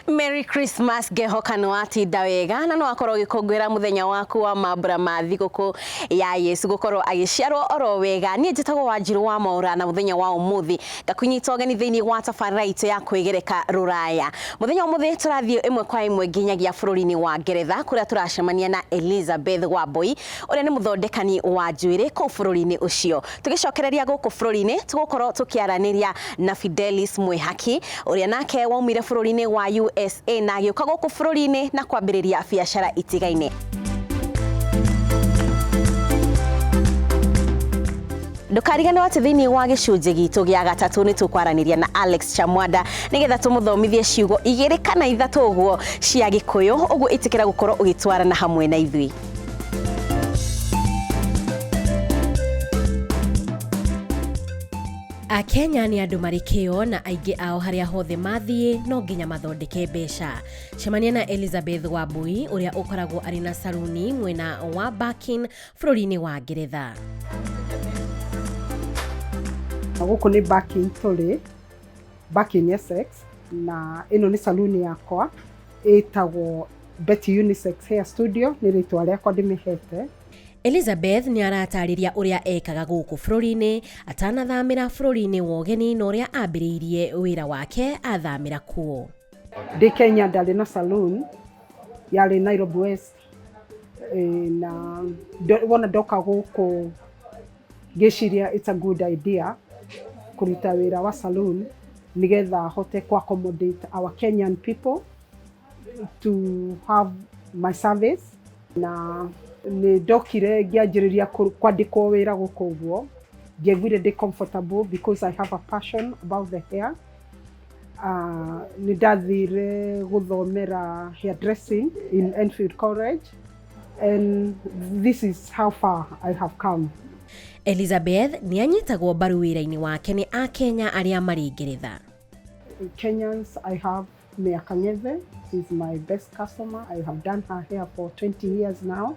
Merry Christmas ngehokanwo atinda wega na no akorwo gikungwira muthenya waku wa mambura ma thiguku ya Yesu gukorwo agiciarwo oro wega nie njitagwo wanjiru wa maura na muthenya wa umuthi ta kũnyita ũgeni thĩinĩ wa tabarĩra itũ ya kwĩgereka rũraya mũthenya ũmũthĩ tũrathiĩ ĩmwe kwa ĩmwe nginyagia bũrũri-inĩ wa ngeretha kũrĩa tũracemania na elizabeth wamboi ũrĩa nĩ mũthondekani wa njuĩrĩ kũu bũrũri-inĩ ũcio tũgĩcokereria gũkũ bũrũri-inĩ tũgũkorwo tũkĩaranĩria na fidelis mwĩhaki ũrĩa nake waumire bũrũri-inĩ wa usa na agĩũka gũkũ bũrũri-inĩ na kwambĩrĩria biacara itigaine ndũkariganĩrwo atĩ thĩinĩ wa gĩcunjĩ gitũ gĩa gatatũ nĩ tũkwaranĩria na alex chamwanda nĩgetha tũmũthomithie ciugo igĩrĩ kana ithatũ ũguo cia gĩkũyũ ũguo ĩtĩkĩra gũkorwo ũgĩtwarana hamwe na ithuĩ akenya nĩ andũ marĩ kĩo na aingĩ ao harĩa hothe mathiĩ no nginya mathondeke mbeca cemania na elizabeth wambui ũrĩa ũkoragwo arĩ na saruni mwena wa bakin bũrũri-inĩ wa ngeretha na gũkũ nĩ Barking tũrĩ Barking Essex na ĩno nĩ saluni yakwa ĩtagwo Betty Unisex Hair Studio nĩ rĩtwa rĩakwa ndĩmĩhete elizabeth nĩ aratarĩria ũrĩa ekaga gũkũ bũrũri-inĩ atanathamĩra bũrũri-inĩ wa ũgeni na ũrĩa ambĩrĩirie wĩra wake athamĩra kuo Ndĩ Kenya ndarĩ na saloon yarĩ Nairobi West eh, na ndo- wona ndoka gũkũ ngĩciria it's a good idea kũruta wĩra wa saloon nĩgetha hote ku accommodate our Kenyan people to have my service na nĩ ndokire ngĩanjĩrĩria kũ- kwandĩkwo wĩra gũkũ ũguo ndiaiguire ndĩ comfortable because I have a passion about the hair Ah, nĩ ndathire gũthomera hairdressing in Enfield College and this is how far I have come. Elizabeth nĩ anyitagwo mbaru wĩra-inĩ wake nĩ Akenya arĩa marĩ Ngeretha. Kenyans I have Mia Kang'ethe, she's my best customer. I have done her hair for 20 years now.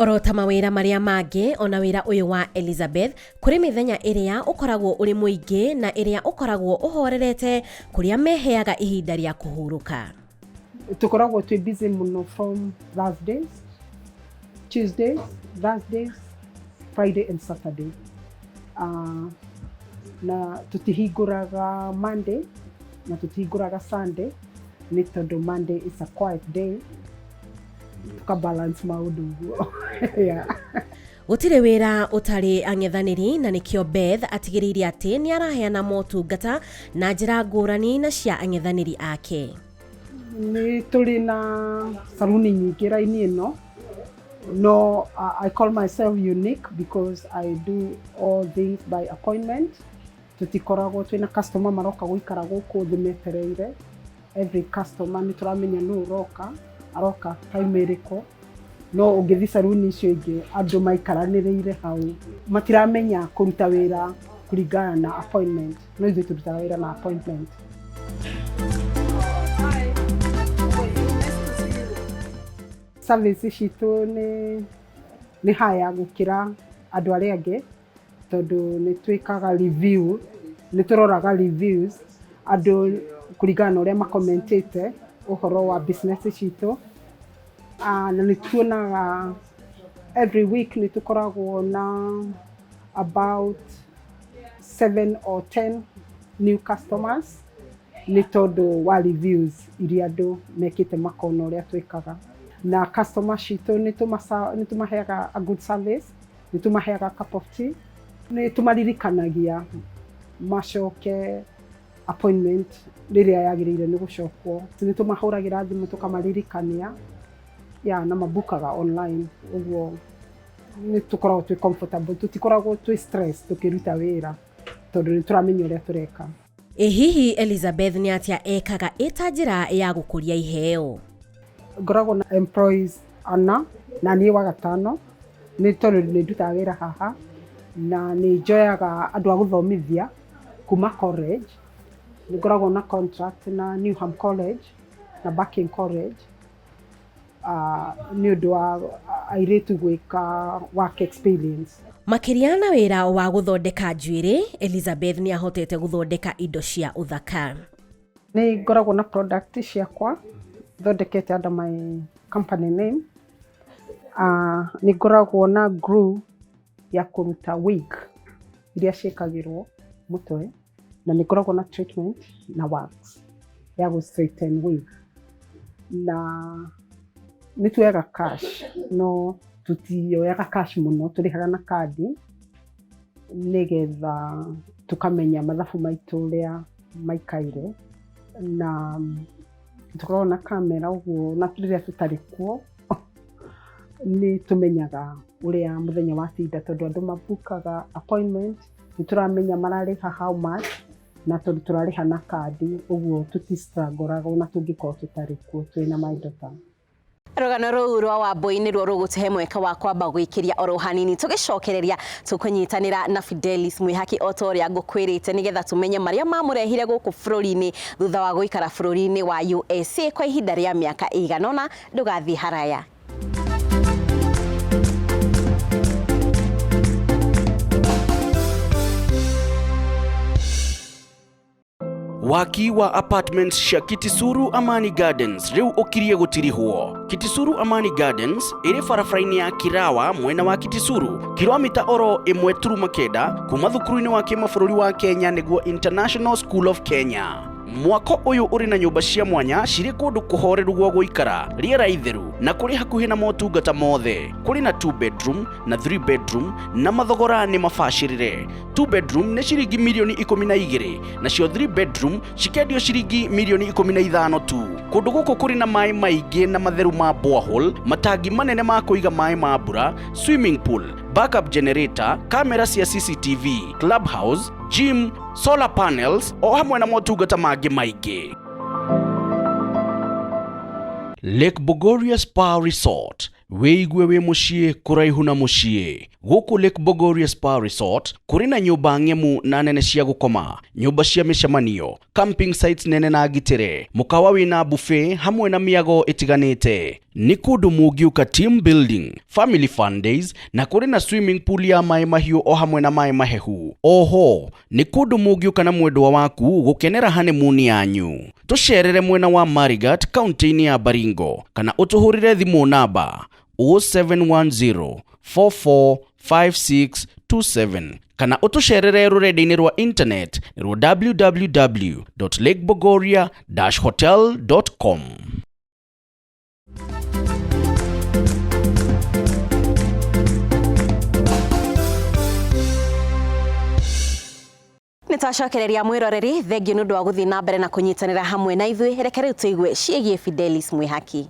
Oro ta mawĩra marĩa mangĩ, ona wĩra ũyũ wa Elizabeth, kũrĩ mĩthenya ĩrĩa ũkoragwo ũrĩ mũingĩ na ĩrĩa ũkoragwo ũhorerete kũrĩa meheaga ihinda rĩa kũhurũka. Tũkoragwo twĩ busy mũno from Thursdays, Tuesdays, Thursdays, Friday and Saturday. Uh, na tũtihingũraga Monday na tũtihingũraga Sunday nĩ tondũ Monday is a quiet day tukabalance maundu guo yeah. gũtirĩ wĩra ũtarĩ ang'ethanĩri na nĩkĩo beth atigĩrĩire atĩ nĩ araheana motungata na njĩra ngũrani na cia ang'ethanĩri ake nĩ tũrĩ na saruni nyingĩ raini ĩno no uh, i call myself unique because i do all things by appointment tũtikoragwo twĩna customer maroka gũikara gũkũ thĩ metereire every customer nĩ tũramenya nũ ũroka aroka time ĩrĩkũ no ũngĩthiĩ saruni icio ingĩ andũ maikaranĩrĩire hau matiramenya kũruta wĩra kũringana na appointment no ithuĩ tũrutaga wĩra na appointment service citũ nĩ nĩ haya gũkĩra andũ arĩa angĩ tondũ nĩ twĩkaga review, nĩ tũroraga reviews andũ kũringana na ũrĩa makomentĩte ũhoro wa business citũ. Na nĩ tuonaga every week nĩ tũkoragwo na about seven or ten new customers nĩ tondũ wa reviews irĩa andũ mekĩte makona ũrĩa twĩkaga. Na customers citũ nĩ tũmaheaga a good service nĩ tũmaheaga cup of tea nĩ tũmaririkanagia macoke appointment rĩrĩa yagĩrĩire nĩ gũcokwo nĩ tũmahũragĩra thimũ tũkamaririkania ya na mabukaga online ũguo nĩ tũkoragwo twĩ comfortable tũtikoragwo twĩ stress tũkĩruta wĩra tondũ nĩ tũramenya ũrĩa tũreka. Ĩ hihi Elizabeth nĩ atĩa ekaga ĩ ta njĩra ya gũkũria iheo? Ngoragwo na employees ana na niĩ wa gatano, nĩ tondũ nĩ ndutaga wĩra haha na nĩ njoyaga andũ a gũthomithia kuma college. Nĩ ngoragwo na contract na Newham College na Barking College. nĩ ũndũ wa airĩtu gwĩka work experience. Makĩria na wĩra wa gũthondeka njuĩrĩ, Elizabeth nĩ ahotete gũthondeka indo cia ũthaka. Nĩ ngoragwo na product ciakwa thondekete under my company name. Uh, nĩ ngoragwo na glue ya kũruta wig iria ciĩkagĩrwo mũtwe. na nĩ ngoragwo na treatment na wax ya gũ straighten wig na nĩ tuoyaga cash no tũtioyaga cash mũno tũrĩhaga na kandi nĩgetha tũkamenya mathabu maitũ ũrĩa maikaire na tũkoragwo na kamera ũguo na rĩrĩa tũtarĩ kuo nĩ tũmenyaga ũrĩa mũthenya watinda tondũ andũ mabukaga appointment nĩtũramenya mararĩha how much na tondũ tũrarĩha na kandi ũguo tũti struggle raga ona tũngĩkorwo tũtarĩ kuo twĩna my daughter. Rũgano rũu rwa Wambũi nĩruo rũgũtũhe mweke wa kwamba gwĩkĩria oro hanini. Tũgĩcokereria, tũkũnyitanĩra na Fidelis Mwĩhaki o ta ũrĩa ngũkwĩrĩte nĩgetha tũmenye marĩa mamũrehire gũkũ bũrũri-inĩ thutha wa gũikara bũrũri-inĩ wa USA kwa ihinda rĩa mĩaka ĩigana ũna. Ndũgathiĩ haraya. waki wa apartments cia kitisuru amani gardens rĩu ũkirie gũtirihwo kitisuru amani gardens ĩrĩ barabara-inĩ ya kirawa mwena wa kitisuru kilomita oro ĩmwe turuma kenda kuma thukuru-inĩ wa kĩmabũrũri wa kenya nĩguo international school of kenya Mwako ũyũ ũrĩ na nyũmba cia mwanya cirĩ kũndũ kũhoreru gwa gũikara, rĩera itheru na kũrĩ hakuhĩ na motungata mothe. Kũrĩ na two bedroom na three bedroom na mathogora nĩ mabacĩrĩre. Two bedroom nĩ ciringi mirioni ikũmi na igĩrĩ nacio three bedroom cikendio ciringi mirioni ikũmi na ithano tu. Kũndũ gũkũ kũrĩ na maĩ maingĩ na matheru ma borehole, matangi manene ma kũiga maĩ ma mbura, swimming pool, backup generator, kamera cia CCTV, clubhouse, gym, solar panels o hamwe na motungata mangĩ maingĩ. Lake Bogoria Spa Resort wĩigue wĩ mũciĩ kũraihu na mũciĩ gũkũ Lake Bogoria Spa Resort kũrĩ na nyũmba ng'emu na nene cia gũkoma nyũmba cia mĩcemanio camping sites nene na ngitĩre mũkawa wĩna buffet hamwe na mĩago ĩtiganĩte nĩ kũndũ mũngiũka team building family fun days na kũrĩ na swimming pool ya maĩ mahiũ o hamwe na maĩ mahehu oho nĩ kũndũ mũngiũka na mwendwa waku gũkenera honeymoon yanyu tũcerere mwena wa marigat kaunti-inĩ ya baringo kana ũtũhũrĩre thimũ namba 0710 445627 kana ũtũcerere rũrenda-inĩ rwa internet rwa www.lakebogoria-hotel.com nä twacokereria mwä roreri thengiå nä å ndå wa gå thiä na mbere na kå nyitanä ra hamwe na ithuä reke rä u tå igue ciägiä fidelis mwä haki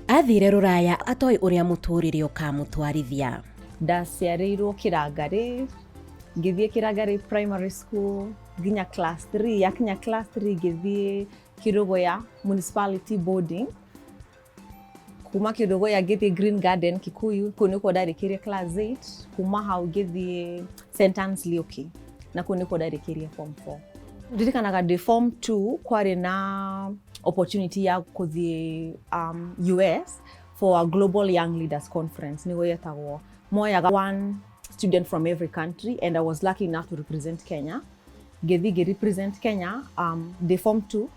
athire rũraya atoĩ ũrĩa mũtũrĩre ũkamũtwarithia ndaciarĩirwo kĩrangarĩ ngĩthiĩ kĩrangari primary school nginya class 3 yakinya class 3 ngĩthiĩ kĩrũgũya municipality boarding kuma kĩrũgũya ngĩthiĩ green garden kikuyu kũu nĩkuo ndarĩkĩrie class 8 kuma hau ngĩthiĩ st Anne's Lioki na kũu nĩkuo ndarĩkĩrie form 4 ndirikanaga ndĩ form 2 kwarĩ na opportunity ya kũthiĩ um, US for a global young leaders conference nĩguo yetagwo moyaga one student from every country and I was lucky enough to represent Kenya. Gethige represent Kenya um, the form 2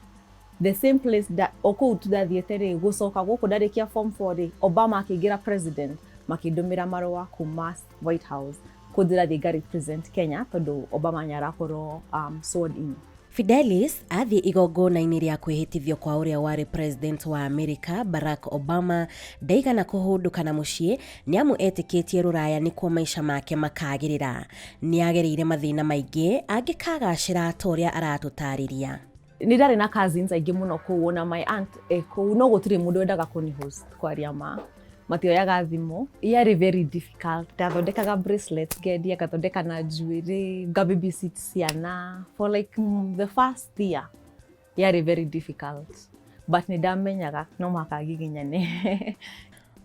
the same place that okuu tuthathiĩte rĩ gũcoka gũkũ ndarĩkia form 4 rĩ Obama akĩingĩra president makĩndũmĩra marũa kuma White House kũnjĩra thiĩ nga represent Kenya tondũ Obama nĩ arakorwo um, sworn in Fidelis athiĩ igongona-inĩ rĩa kwĩhĩtithio kwa ũrĩa warĩ president wa Amerika Barack Obama ndaigana kũhũndũka na mũciĩ nĩamu etĩkĩtie rũraya nĩkuo maica make makagĩrĩra. Nĩagereire mathĩna maingĩ angĩkagacĩra ta ũrĩa aratũtarĩria. nä ndarä na cousins aingä må no kå u ona my aunt ekå u no gå tirä må ndå wendaga kå nä host kwaria ma matioyaga thimũ yarĩ very difficult ndathondekaga bracelet ngendia ngathondeka na njuĩrĩ ngababysit ciana for like mm, the first year yarĩ very difficult but nĩ ndamenyaga no mũhaka ngiginyane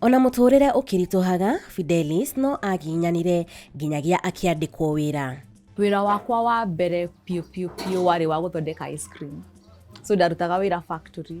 Ona mũtũũrĩre ũkĩritũhaga, Fidelis no aginyanire nginyagia akĩandĩkwo wĩra. wĩra wakwa wa mbere piũ piũ piũ warĩ wa gũthondeka ice cream so ndarutaga wĩra factory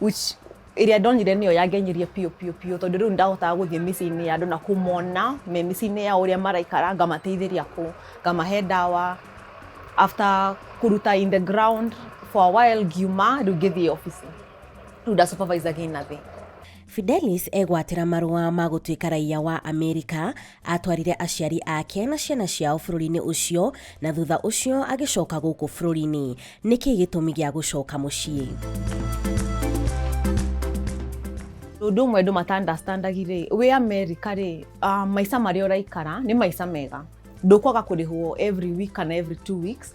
which ĩrĩa ndonire nĩyo yangenirie biũ biũ biũ tondũ rĩu ndahotaga gũthiĩ mĩciĩ-inĩ ya andũ na kũmona me mĩciĩ-inĩ ya ũrĩa maraikara ngamateithĩria kũ ngamahe ndawa after kũruta in the ground for a while ngiuma rĩu ngĩthiĩ obici rĩu nda supervisaga ĩ nathĩ Fidelis egwatĩra marũa ma gũtuĩka raiya wa Amerika, atwarire aciari ake na ciana ciao bũrũri-inĩ ũcio na thutha ũcio agĩcoka gũkũ bũrũri-inĩ. Nĩ kĩĩ gĩtũmi gĩa gũcoka mũciĩ? Ũndũ ũmwe andũ matandastandagi-rĩ, wĩ Amerika-rĩ, maica marĩa ũraikara nĩ maica mega. Ndũkwaga kũrĩhwo every week kana every two weeks.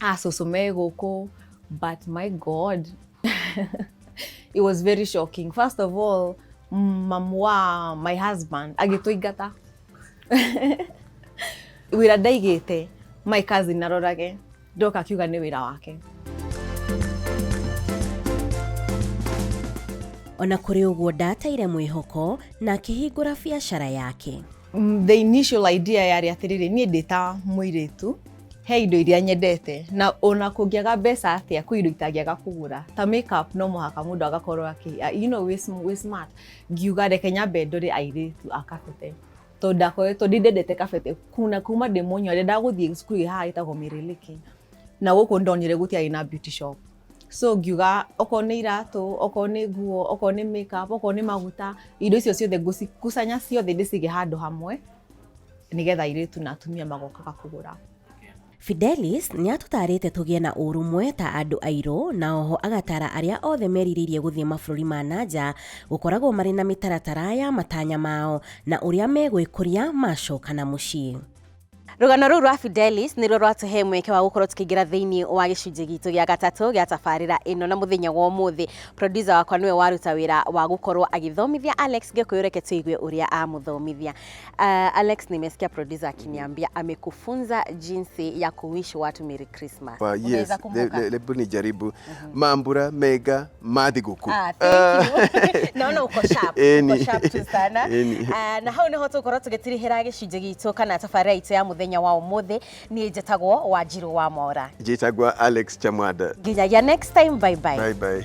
ah, cũcũ me gũkũ but my god it was very shocking first of all mm, mamu wa my husband agĩtũingata wĩra ndaigĩte my cousin narorage ndoka akiuga nĩ wĩra wake ona kũrĩ ũguo ndateire mwĩhoko na akĩhingũra biacara yake Mm, the initial idea yarĩ atĩrĩrĩ niĩ ndĩ ta mũirĩtu he indo iria nyendete na ona kũngĩaga mbeca atĩa kwĩ indo itangĩaga kũgũra ta makeup no mũhaka mũndũ agakorwo akĩ ah, you know, wĩ sm- wĩ smart ngiuga reke nyambe ndore airĩtu a kabete tondũ ndakoretwo ndĩ ndendete kabete kuna kuma ndĩ mũnyua ndendaga gũthiĩ cukuru ĩhaha ĩtagwo mĩrĩlĩkĩ na gũkũ ndonire gũtiarĩ na beauty shop so ngiuga okorwo nĩ iratũ okorwo nĩ nguo okorwo nĩ makeup okorwo nĩ maguta indo icio ciothe ngũcikucanya ciothe ndĩcige handũ hamwe nĩgetha airĩtu na atumia magokaga kũgũra Fidelis nĩ atũtaarĩte tũgĩe na ũrũmwe ta andũ airũ na oho agatara arĩa othe merirĩirie gũthiĩ mabũrũri ma nanja gũkoragwo marĩ na mĩtaratara ya matanya mao na ũrĩa megwĩkũria macokana mũciĩ. Rũgano rũu rwa Fidelis nĩruo rwatũhe mweke wa gũkorwo tũkĩingĩra thĩinĩ wa gĩcunjĩ gitũ gĩa gatatũ gĩa tabarĩra ĩno na mũthenya wa ũmũthĩ producer wakwa nĩwe waruta wĩra wa gũkorwo agĩthomithia Alex Gĩkũyũ reke tũigue ũrĩa amũthomithia. Uh, Alex nimesikia producer akiniambia amekufunza jinsi ya kuwish watu Merry Christmas. Kwa- Unaweza yes, le- kumbuka? le- lebu nijaribu mambura mega Madhi guku. Ah, thank you. Naona uko sharp. Eni. Uko sharp tu sana. Eni. Ah, na hau niho tukorwo tugitirihira gicunjĩ gitũ kana tabarĩra itũ ya mũthenya wa ũmũthĩ niĩ njĩtagwo wanjirũ wa mora Njĩtagwa Alex Chamwada. nginyagia next time bye bye Bye bye.